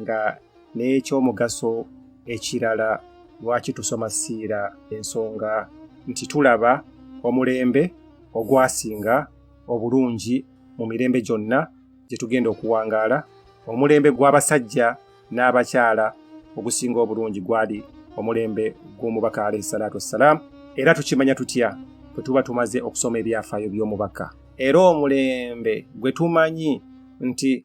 nga n'ekyomugaso ekirala lwaki tusoma siira ensonga nti tulaba omulembe ogwasinga obulungi mu mirembe gyonna gye tugenda okuwangaala omulembe gw'abasajja n'abakyala ogusinga obulungi gwali omulembe gw'omubaka alaihi salatu wassalaamu era tukimanya tutya bwe tuba tumaze okusoma ebyafaayo by'omubaka era omulembe gwe tumanyi nti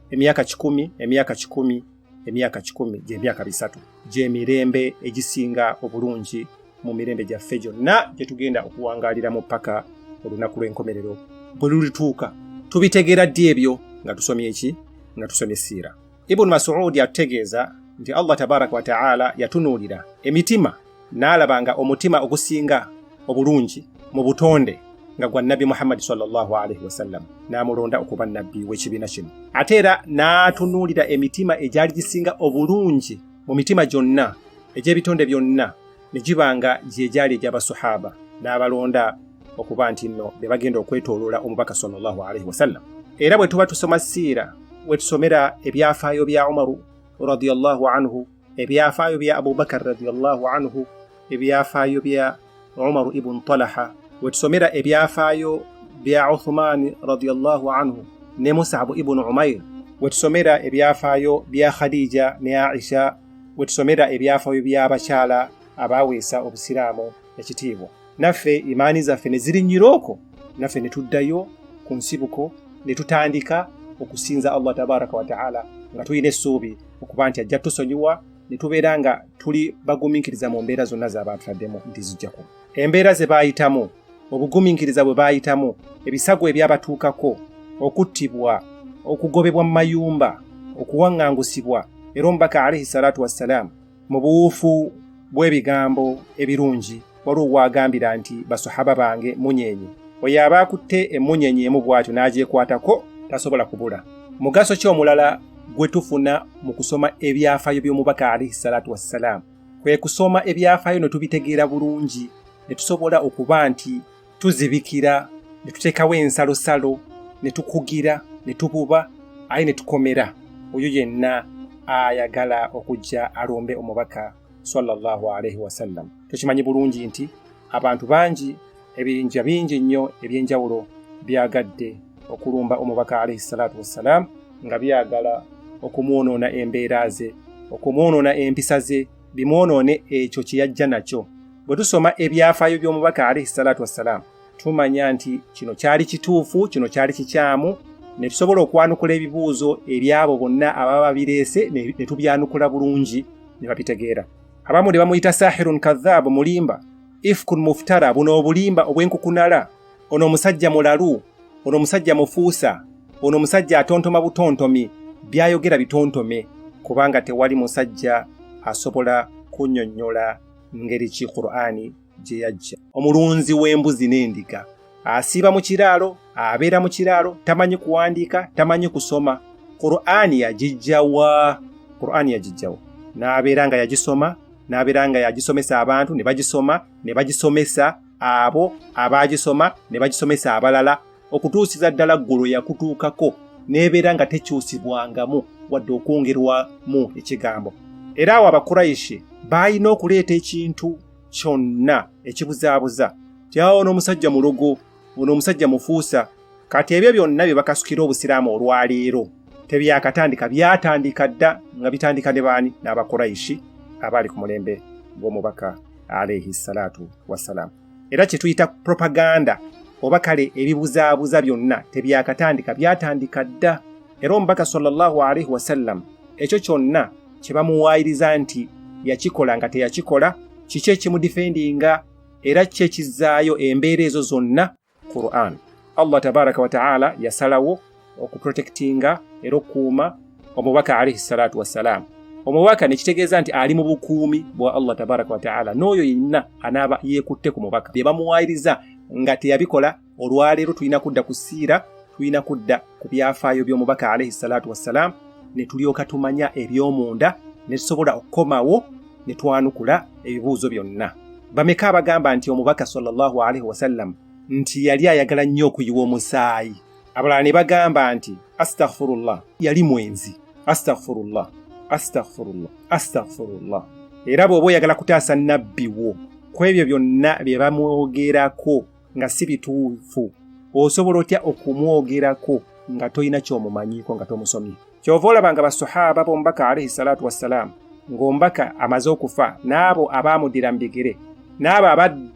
emyaka kikumi emyaka kikumi emyaka kikumi gy'emyaka bisatu gy'emirembe egisinga obulungi mu mirembe gyaffe gyonna gye tugenda okuwangaaliramu paka olunaku lw'enkomerero bwe lulituuka tubitegeera ddi ebyo nga tusomye eki nga tusomye siira ibunu masuudi atutegeeza nti allah tabaraka wataala yatunuulira emitima n'alaba nga omutima ogusinga obulungi mu butonde nga gwa nabbi muhammadi salllahu alaihi wasallam n'amulonda okuba nabbi w'ekibiina kino ate era n'atunuulira emitima egyali gisinga obulungi mu mitima gyonna egy'ebitonde byonna ne giba nga gye gyali egy'abasuhaba n'abalonda okuba nti nno be bagenda okwetooloola omubaka salllahu alaihi wasallam era bwe tuba tusoma siira we tusomera ebyafaayo bya umaru radiallahu anhu ebyafaayo bya abubakar radiallahu anhu ebyafaayo bya umaru ibun talaha wetusomera ebyafaayo bya uthumani radiallahu anhu ne musabu ibunu umair wetusomera ebyafaayo bya khadija ne aisha wetusomera ebyafaayo by'abakyala abaweesa obusiraamu ekitiibwa naffe imaani zaffe ne zirinnyira okwo naffe ne tuddayo ku nsibuko ne tutandika okusinza allah tabaraka wataala nga tulina essuubi okuba nti ajja tusonyiwa ne tubeera nga tuli bagumiikiriza mu mbeera zonna zaaba atutaddemu nti zijjaku embeera ze baayitamu obugumiikiriza bwe baayitamu ebisago ebyabatuukako okuttibwa okugobebwa mu mayumba okuwaŋŋangusibwa era omubaka alaihi salatu wassalaamu mu buwuufu bw'ebigambo ebirungi waliwo waagambira nti basahaba bange munyenye oyo aba akutte emmunyenye emu bw'atyo n'agyekwatako tasobola kubula mugaso ki omulala gwe tufuna mu kusoma ebyafaayo by'omubaka alaihi salaatu wassalaamu kwe kusoma ebyafaayo ne tubitegeera bulungi ne tusobola okuba nti tuzibikira ne tuteekawo ensalosalo ne tukugira ne tububa aye ne tukomera oyo yenna ayagala okujja alombe omubaka sallallahu alaihi wasallam tukimanyi bulungi nti abantu bangi ebiyinja bingi nnyo eby'enjawulo byagadde okulumba omubaka alaihi salaatu wassalaamu nga byagala okumwonoona embeera ze okumwonoona empisa ze bimwonoone ekyo kye yajja nakyo bwe tusoma ebyafaayo by'omubaka alaihi salaatu wassalaamu tumanya nti kino kyali kituufu kino kyali kikyamu ne tusobola okwanukula ebibuuzo ebyabo bonna ababa babireese ne tubyanukula bulungi ne babitegeera abamu ne bamuyita sahirun kadhaabu mulimba ifkun muftara buno obulimba obw'enkukunala ono omusajja mulalu ono omusajja mufuusa ono omusajja atontoma butontomi byayogera bitontome kubanga tewali musajja asobola kunyonyola ngeri ki qur'ani gye yajja omulunzi w'embuzi n'endiga asiiba mu kiraalo abeera mu kiraalo tamanyi kuwandiika tamanyi kusoma qur'ani yagijjawa qur'ani yagijjawa n'abeera nga yagisoma n'abeera nga yagisomesa abantu ne bagisoma ne bagisomesa abo abaagisoma ne bagisomesa abalala okutuusiza ddala ggulu yakutuukako n'ebeera nga tekyusibwangamu wadde okwongerwamu ekigambo era awo abakurayishi baalina okuleeta ekintu kyonna ekibuzaabuza tyawo n'omusajja mulogo ono omusajja mufuusa kati ebyo byonna bye bakasukira obusiraamu olwaleero tebyakatandika byatandika dda nga bitandika ne baani n'abakurayishi abaali ku mulembe gw'omubaka alaihi salatu wassalaamu era kye tuyita propaganda oba kale ebibuzaabuza byonna tebyakatandika byatandika dda era omubaka sallallahu alaihi wasallam ekyo kyonna kye bamuwaayiriza nti yakikola nga teyakikola kiki ekimudifendinga era ki ekizaayo embeera ezo zonna Quran. Allah tabaraka wa taala yasalawo okuprotectinga era okukuuma omubaka alaihi salatu wassalaamu omubaka nekitegeeza nti ali mu bukuumi bwa allah tabaraka wataala n'oyo yenna anaaba yeekutte ku mubaka bye bamuwaayiriza nga teyabikola olwaleero tulina kudda ku siira tulina kudda ku byafaayo by'omubaka alaihi salaatu wassalaamu ne tulyoka tumanya eby'omunda ne tusobola okukomawo ne twanukula ebibuuzo byonna bameka abagamba nti omubaka sallallahu alaihi wasallam nti yali ayagala nnyo okuyiwa omusaayi abalala ne bagamba nti astaghfirullah yali mwenzi astaghfirullah astaghfirullah astaghfirullah era bw'oba oyagala kutaasa nabbi wo ku ebyo byonna bye bamwogerako nga si bituufu osobola otya okumwogerako nga tolina kyomumanyiiko nga tomusomye kyova olaba nga basahaba bomubaka alaihi salatu wassalaamu ng'omubaka amaze okufa n'abo abaamuddira mu bigere n'abo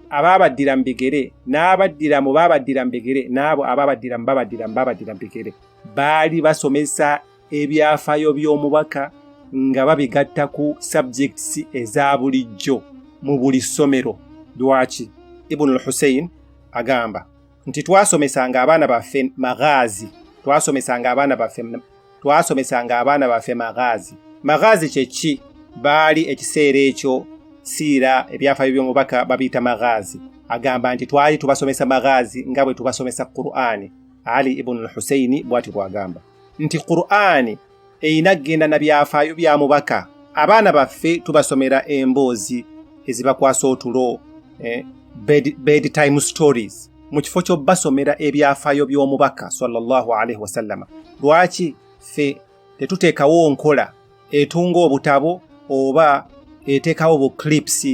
abaabaddira mu bigere n'abaddira mu baabaddira mu bigere n'abo abaabaddira mu babaddira mu baabaddira mu bigere baali basomesa ebyafaayo by'omubaka nga babigatta ku subjects eza bulijjo mu buli ssomero lwaki ibunu lhusein agamba nti twasomesanga abaana baffe maghaazi twasomesanga abaana baffe twasomesanga abaana baffe maghaazi maghaazi kye ki baali ekiseera ekyo siira ebyafaayo by'omubaka babiyita maghaazi agamba nti twali tubasomesa maghaazi nga bwe tubasomesa qur'ani ali ibunu lhuseini bwati bwagamba nti qur'ani erina kugenda na byafaayo bya mubaka abaana baffe tubasomera emboozi ezibakwasa otulo eh, bed, bedtime stories mu kifo ky'obbasomera ebyafaayo by'omubaka sallallahu alaihi wasallama lwaki ffe tetuteekawo nkola etunga obutabo oba eteekawo bu clips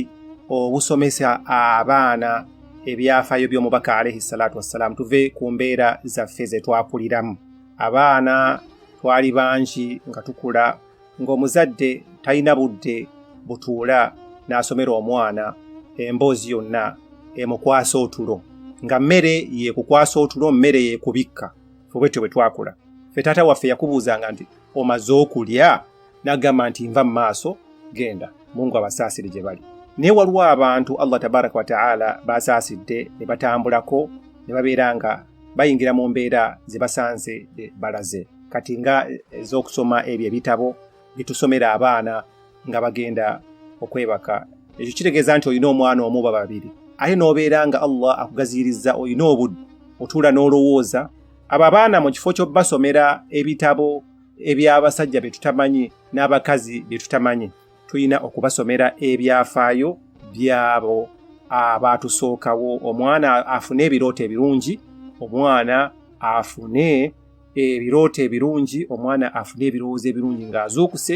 obusomesa abaana ebyafaayo by'omubaka alaihi salatu wassalaamu tuve ku mbeera zaffe ze twakuliramu abaana twali bangi nga tukula ng'omuzadde talina budde butuula n'asomera omwana emboozi yonna emukwasa otulo nga mmere yekukwasa otulo mmere yekubikka fubwetyo bwe twakula fe taata waffe yakubuuzanga nti omaze okulya nagamba nti nva mu maaso genda mungu abasaasire gye bali naye waliwo abantu allah tabaraka wataala basaasidde ne batambulako ne babeera nga bayingira mu mbeera ze basanze eh, balaze kati nga eh, ez'okusoma ebyo ebitabo byetusomera abaana nga bagenda okwebaka ekyo kitegeeza nti olina omwana omu ba babiri ate n'obeera nga allah akugaziyirizza olina obudde otuula n'olowooza abo abaana mu kifo ky'obbasomera ebitabo eby'abasajja bye tutamanyi n'abakazi bye tutamanyi tulina okubasomera ebyafaayo byabo abaatusookawo omwana afune ebirooto ebirungi omwana afune ebirooto ebirungi omwana afune ebirowoozo ebirungi ng'azuukuse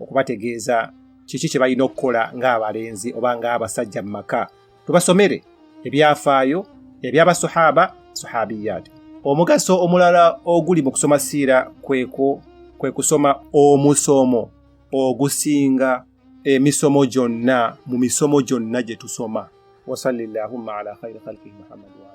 okubategeeza kiki kye balina okukola ng'abalenzi oba ng'abasajja mu maka tubasomere ebyafaayo eby'abasuhaba suhabiyat omugaso omulala oguli mu kusoma siira kweko kwe kusoma omusomo ogusinga emisomo gyonna mu misomo gyonna gye tusoma wasalli llahumma ala khairi khalqihi muhammadi wa